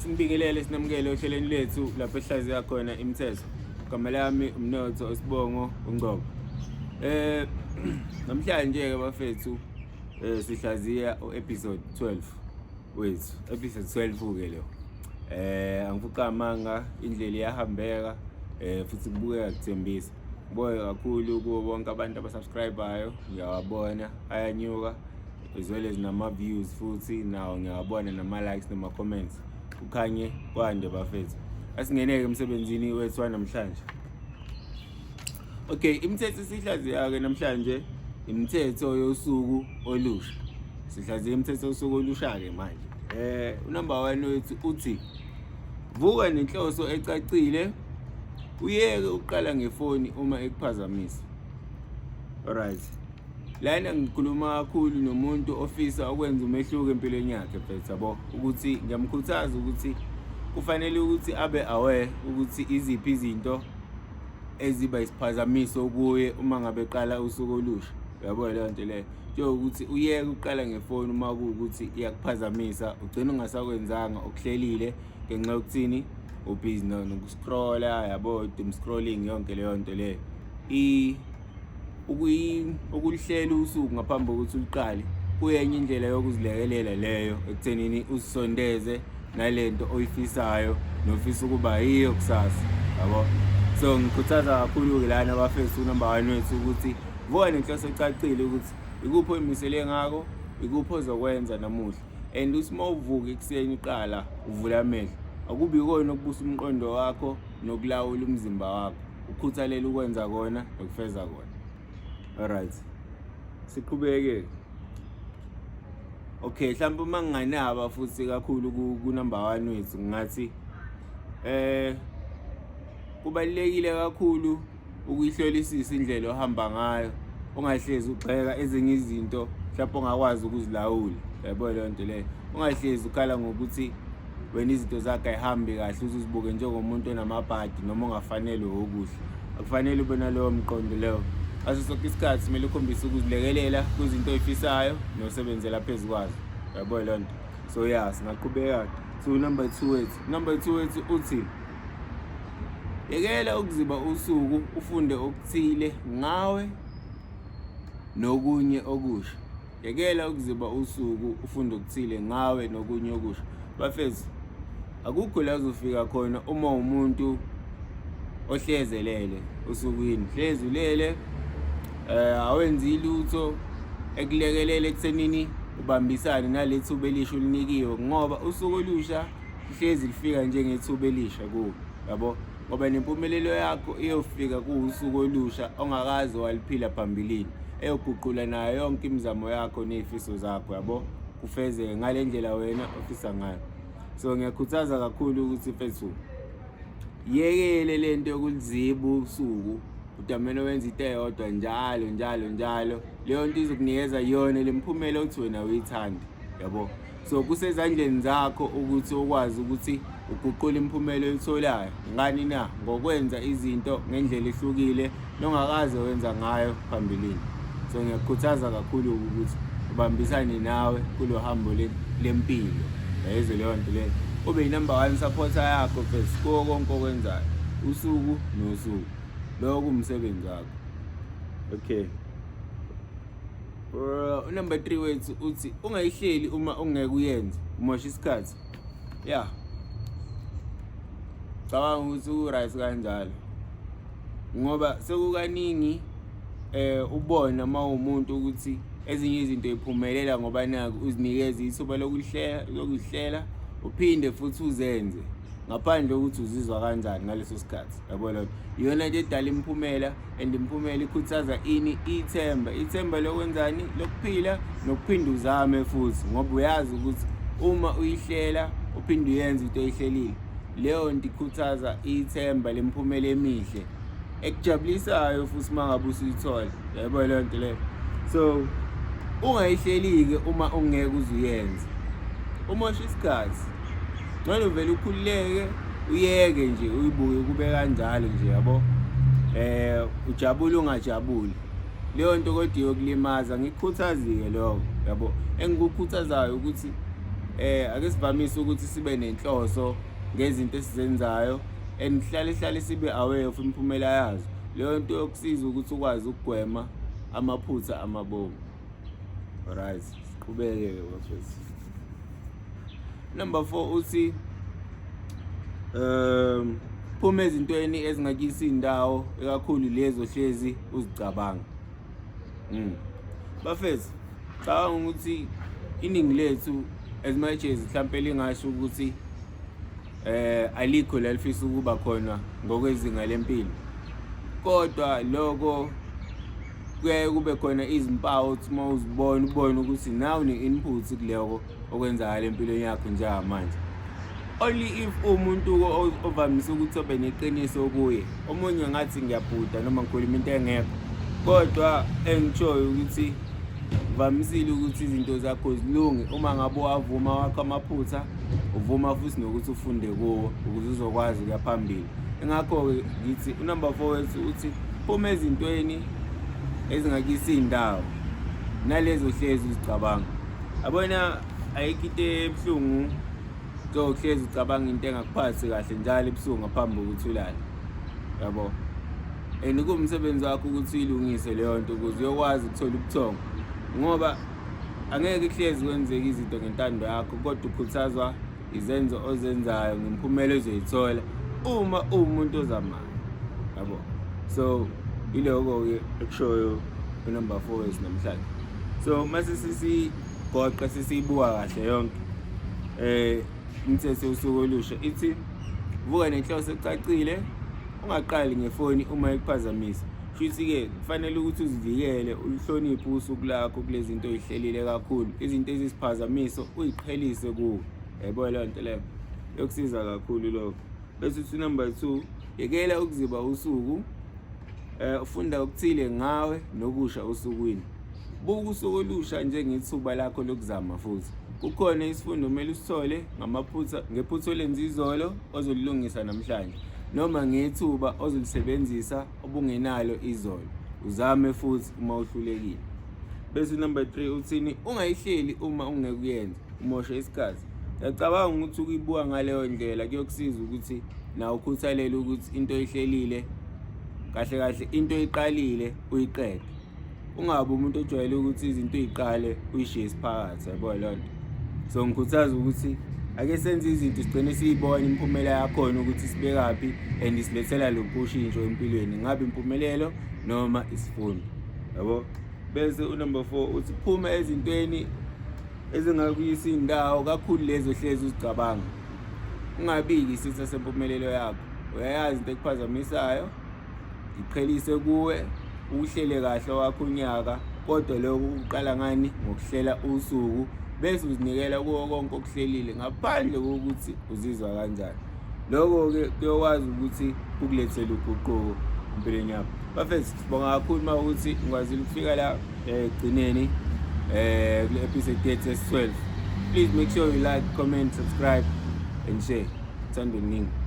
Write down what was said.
Simbingelele sinamukele ohlelweni lethu lapho ehlaziya khona imithetho. Igama lami umnotho osibongo ungcobo. Eh namhlanje ke bafethu eh sihlaziya uepisode 12 wethu. Episode 12 ke lo. Eh angifuqa amanga indlela iyahambeka eh futhi kubukeka kuthembisa. Ngibonge kakhulu kubo bonke abantu abasubscribayo, ngiyawabona ayanyuka as well as nama-views futhi nawo ngiyawabona nama-likes nama-comments kukhanye kwande bafethu asingeneke emsebenzini wethu wanamhlanje okay imithetho esihlaziya-ke namhlanje imithetho yosuku olusha sihlaziya imithetho yosuku olusha-ke manje um unumber one wethu uthi vuka nenhloso ecacile uyeke uqala ngefoni uma ekuphazamisa alright lana ngikhuluma kakhulu nomuntu ofisa okwenza umehluko empilweni yakhe mfethu yabo ukuthi ngiyamkhuthaza ukuthi kufanele ukuthi abe aware ukuthi iziphi izinto eziba isiphazamiso kuye uma ngabe qala usuku olusha yabo leyo nto leyo njengokuthi uyeke uqala ngefoni uma kuwukuthi iyakuphazamisa ugcina ungasakwenzanga okuhlelile ngenxa yokuthini ubhizi nokuscrolla yabo doom scrolling yonke leyo nto leyo ukuhlela usuku ngaphambi kokuthi uliqale kuyenye indlela yokuzilekelela leyo ekuthenini usondeze nale nto oyifisayo nofisa ukuba yiyo kusasa yabo so ngikhuthaza kakhulu-ke lana abafesi unumber one wethu ukuthi kuba nenhloso ecacile ukuthi ikuphi oyimisele ngako ikuphi ozokwenza namuhla and uthi uma uvuka ekuseni uqala uvula amehlo akubi kona ukubusa umqondo wakho nokulawula umzimba wakho ukhuthalele ukwenza kona nokufeza kona alright siqhubeke okay mhlawumbe uma nginganaba futhi kakhulu kunumber 1 wethu ngathi eh kubalekile kakhulu ukuyihlolisisa indlela ohamba ngayo ungahlezi ugxeka ezinye izinto mhlawumbe ongakwazi ukuzilawula yabo leyo nto leyo ungahlezi ukhala ngokuthi wena izinto zakhe ayihambi kahle uzizibuke njengomuntu onamabhadi noma ongafanelwe okuhle akufanele ube nalowo mqondo leyo aso sonke isikhathi kumele ukhombise ukuzilekelela kwizinto oyifisayo nosebenzela phezu kwazo yabo leyo nto so ya singaqhubeka so number two wethu number two wethu uthi Yekela ukuziba usuku ufunde okuthile ngawe nokunye okusha. Yekela ukuziba usuku ufunde okuthile ngawe nokunye okusha. Bafethu akukho la uzofika khona uma umuntu ohlezelele usukwini hlezi ulele eh awenzi lutho ekulekelele ekuthenini ubambisane nalethuba elisho linikiwe ngoba usuku olusha lihlezi lifika njengethuba elisha kuwe yabo ngoba nempumelelo yakho iyofika kuwusuku olusha ongakaze waliphila phambilini eyoguqula nayo yonke imizamo yakho ney'fiso zakho yabo kufezeke ngale ndlela wena ofisa ngayo so ngiyakhuthaza kakhulu ukuthi fethu yekele le nto yokuliziba usuku udamene wenza into eyodwa njalo njalo njalo leyo nto izokunikeza yona le mphumela othi wena uyithande yabo so kusezandleni zakho ukuthi ukwazi ukuthi uguqule imiphumela oyitholayo ngani na ngokwenza izinto ngendlela ehlukile nongakaze wenza ngayo phambilini so ngiyakukhuthaza kakhulu ukuthi ubambisane nawe kulo hambo lempilo yayizwe leyo nto leyo ube yinumber one supporter yakho first kuwo konke okwenzayo usuku nosuku lowo kumsebenzi wakho okay Bro, number 3 wethu uthi ungayihleli uma ungeke uyenze, umosha isikhathi. Yeah. Cabanga ukuthi u right kanjalo. Ngoba sekukaningi eh ubona uma umuntu ukuthi ezinye izinto iphumelela ngoba naku uzinikeza ithuba lokuhlela lokuhlela uphinde futhi uzenze ngaphandle kokuthi uzizwa kanjani ngaleso sikhathi yabo lona iyona nto edala imiphumela and impumela ikhuthaza ini ithemba ithemba lokwenzani lokuphila nokuphinde uzame futhi ngoba uyazi ukuthi uma uyihlela uphinde uyenze into oyihlelile leyo nto ikhuthaza ithemba lemphumela emihle ekujabulisayo futhi uma ngabe usuyithola yebo leyo nto leyo so ungayihleli-ke uma ungeke uze uyenze umosha isikhathi ngcono vele ukhululeke uyeke nje uyibuke kube kanjalo nje yabo eh ujabule ungajabuli leyo nto kodwa iyokulimaza ngikhuthazike lokho yabo engikukhuthazayo ukuthi eh ake sivamise ukuthi sibe nenhloso ngezinto esizenzayo and sihlale hlale sibe aware of imiphumela yazo leyo nto yokusiza ukuthi ukwazi ukugwema amaphutha amabomu Alright, siqhubeke ke bafethu. Number 4 uthi um phuma ezintweni ezingakisi indawo ekakhulu lezo hlezi uzicabanga. Mm. Bafethu, cabanga ukuthi iningi lethu as much as mhlawumbe lingasho ukuthi eh alikho lalifisa ukuba khona ngokwezinga lempilo kodwa lokho kuyaye kube khona izimpawu ukuthi uma uzibona ubone ukuthi nawe une-input kuloko okwenzakala empilweni yakho njengamanje only if umuntu ovamise ukuthi obe neqiniso kuye omunye ngathi ngiyabhuda noma ngikhuluma into engekho kodwa engishoyo ukuthi kuvamisile ukuthi izinto zakho zilunge uma ngabe wavuma wakho amaphutha uvuma futhi nokuthi ufunde kuwo ukuze uzokwazi ukuya phambili engakho-ke ngithi unumber four wethu uthi phuma ezintweni ezingakisi iy'ndawo nalezo hlezi uzicabanga abona ayikho into ebuhlungu njengokuhlezi ucabanga into engakuphathi kahle njalo ebusuku ngaphambi kokuthi ulale yabo and kuwumsebenzi wakho ukuthi uyilungise leyo nto ukuze uyokwazi ukuthola ubuthongo ngoba angeke kuhlezi kwenzeka izinto ngentando yakho kodwa ukhuthazwa izenzo ozenzayo ngemiphumela ezoyithola uma uwumuntu ozamayo yabo so iloko-ke ekushoyo unumber four wethu namhlanje so uma sisigoqa sisiyibuka kahle yonke um Imithetho yosuku olusha ithi vuka nenhloso ecacile ungaqali ngefoni uma ikuphazamisa futhi-ke kufanele ukuthi uzivikele uluhloniphe usuku lakho kule zinto oyihlelile kakhulu izinto ezisiphazamiso uyiqhelise kuwe yayibona leyo nto leyo yokusiza kakhulu lokho bese uthi number two yekela ukuziba usuku um ufunda okuthile ngawe nokusha osukwini Buka usuku olusha njengethuba lakho lokuzama futhi. Kukhona isifundo kumele usithole ngamaphutha ngephutha olenze izolo ozolilungisa namhlanje noma ngethuba ozolisebenzisa obungenalo izolo. Uzame futhi uma uhlulekile. Bese number 3 uthini ungayihleli uma ungeke uyenze umoshe isikhathi. Ngiyacabanga ukuthi ukuyibuka ngaleyo ndlela kuyokusiza ukuthi nawe ukhuthalele ukuthi into oyihlelile kahle kahle into oyiqalile uyiqede. ungabe umuntu ojwayele ukuthi izinto uyiqale uyishiye isiphakathi yabo leyo nto so ngikhuthaza ukuthi ake senze izinto sigcine siyibona imiphumela yakhona ukuthi sibekaphi and isilethela luphi ushintsho empilweni ngabe impumelelo noma isifundo yabo bese unumber 4 uthi phuma ezintweni ezingakuyisa indawo kakhulu lezo hlezi uzicabanga ungabiki isitha sempumelelo yakho uyayazi into ekuphazamisayo ngiqhelise kuwe uhlele kahle wakho unyaka kodwa lokho kuqala ngani ngokuhlela usuku bese uzinikela kuwo konke okuhlelile ngaphandle kokuthi uzizwa kanjani lokho-ke kuyokwazi ukuthi kukulethele uguquko empilweni yakho bafethu sibonga kakhulu uma ukuthi ngikwazile ukufika la eh, ekugcineni um kule episode yethu esi-12 please make sure you like comment subscribe and share thanda oluningi